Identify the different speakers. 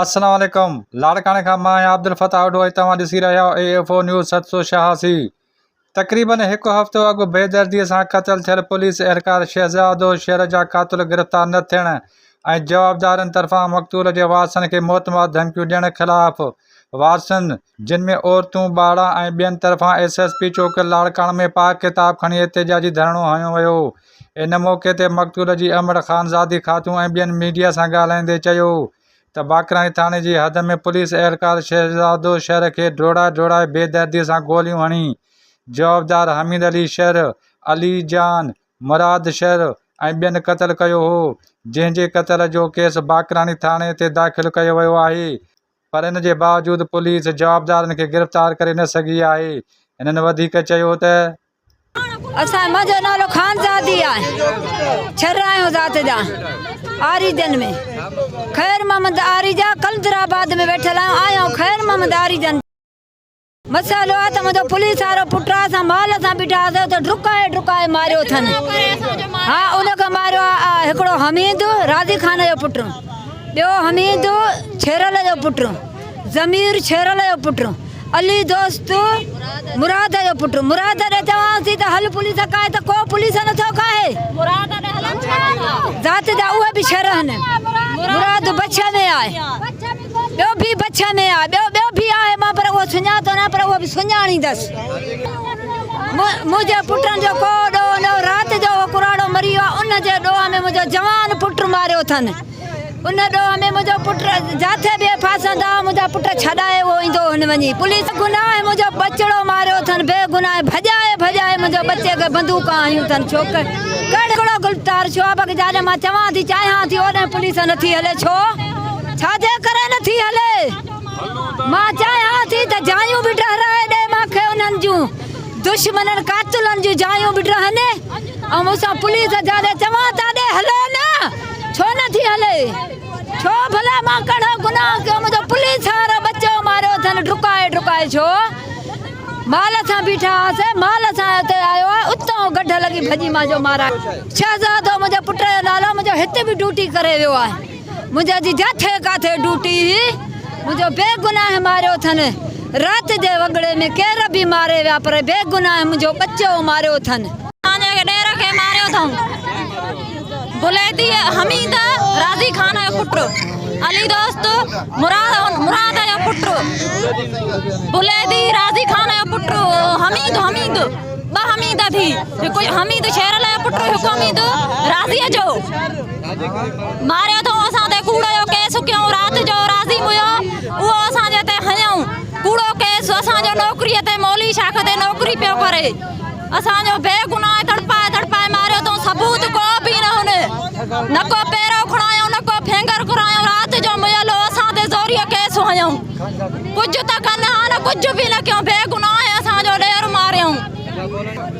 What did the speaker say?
Speaker 1: السلام عليڪم لاڙڪاڻي کان مان آهيان عبدالفتاح آهوجو ۽ توهان ڏسي رهيا آهيو اي ايف او نيوز ست سو شهاسي تقريباً هڪ هفتو اڳ بي دردي سان قتل ٿيل پوليس اهلڪار شهزادو شهر جا قاتل گرفتار نه ٿيڻ ۽ جوابدارن طرفان مقتول جي وارثن کي موت مار ڌمڪيون ڏيڻ خلاف وارثن، جن ۾ عورتون، ٻارڙا ۽ ٻين طرفان ايس ايس پي چوڪ لاڙڪاڻو ۾ پاڪ ڪتاب کڻي احتجاجي ڌرڻو هنيو ويو. ان موقعي تي مقتول جي امڙ خانزادي خاتون ۽ ٻين ميڊيا سان ڳالهائيندي چيو ته باقراڻي ٿاڻي جي حد ۾ پوليس اهلڪار شهزادو شر کي ڊوڙائي ڊوڙائي بي دردي سان گوليون هڻي جوابدار حميد علي شر، علي جان، مراد شر ۽ ٻين قتل ڪيو هو، جنهن جي قتل جو ڪيس باقراڻي ٿاڻي تي داخل ڪيو ويو آهي. پر ان جي باوجود پوليس جوابدارن کي گرفتار ڪري نه سگهي آهي. هنن وڌيڪ چيو ته.
Speaker 2: اسان منهنجو نالو خانزادي آهي ڇر آهيون ذات جا آريجن ۾ خير محمد آريجا قلندرآباد ۾ ويٺل آهيون آهيان خير محمد آريجن جي. مسئلو آ ته منهنجو پوليس وارو پٽ آ، اسان مال سان بيٺا هئاسين، اتي ڊڪائي ڊڪائي ماريو اٿن. ها ان کي ماريو آ هڪڙو حميد راضي خان جو پٽ، ٻيو حميد ڇيرل جو پٽ، ضمير ڇيرل جو پٽ، علي دوست مراد جو پٽ، مراد ڏي چوانسين ته هل پوليس کائي ته ڪو پوليس نه ٿو کائي، ذات جا اهي به شر هن، مراد بڇ ۾ آ. ٻيو ڀي بڇ ۾ آ. ٻيو ٻيو ڀي آهي مان پر اهو سڃاتو نه پر اهو به سڃاڻيندس. منهنجي پٽن جو ڪو ڏوهه نه هو. رات جو اهو ڪراڙو مري ويو آهي. ان جي ڏوهه ۾ منهنجو جوان پٽ ماريو اٿن. ان ڏوهه ۾ منهنجو پٽ جاٿي به ڦاسندا ها منهنجا پٽ ڇڏائي اهو ايندو هن وڃي پوليس بي گناهه منهنجو ٻچڙو ماريو اٿن بي گناهه ڀڄائي ڀڄائي منهنجو ٻچي کي بندوقون هنيون اٿن ڇو ڪهڙو گلفتار ڇو آ بڪ جاڏي مان چوان ٿي چاهيان ٿي اوڏهن پوليس نٿي هلي ڇو. ڇا جي ڪري نه ٿي هلي؟ مان چاهيان ٿي ته جايون به ڊهرائي ڏي مان کي انهن جون دشمنن قاتلن جون جايون به ڊهن ۽ اسان پوليس جا ڏي چوان ٿا ڏي هلي نه ڇو نه ٿي هلي ڇو ڀلا مان ڪهڙو گناهه ڪيو منهنجو پوليس وارو ٻچو ماريو اٿن ڊڪائي ڊڪائي ڇو مال سان بيٺا هئاسين مال سان اتي آيو آهي اتان گڍ لڳي ڀڄي مان جو مارا شهزادو منهنجو پٽ جو نالو منهنجو هتي به ڊيوٽي ڪري ويو آهي. منهنجا جي جاٿي ڪاٿي ڊوٽي هئي منهنجو بي گناهه ماريو ٿن رات جي وڳڙي ۾ ڪير به ماري ويا پر بي گناهه منهنجو ٻچو ماريو ٿن. اسان جي ڏير کي ماريو اٿئون بليتي حميد راضي خان جو پٽ علي دوست مراد جو پٽ بليتي راضي خان جو پٽ حميد حميد ٻه حميد ٿي هڪ حميد شيرل جو پٽ هڪ حميد راضي جو ماريو ٿئون اسان تي ڪوڙو جو ڪيس ڪيئون رات جو راضي ميو اهو اسان جي تي هنيئون ڪوڙو ڪيس اسان جو نوڪري تي مولي شاخ تي نوڪري پيو ڪري اسان جو بي گناهه تڙپائي تڙپائي ماريو ٿئون ثبوت ڪو به نه هن نه ڪو پيرو کڻايو نه ڪو فينگر کرايو رات جو ميل هو اسان تي زوريء ڪيس هنيئون ڪجهه ته ڪن ها نه ڪجهه به نه ڪيئون بي گناهه اسان جو ڏير ماريئون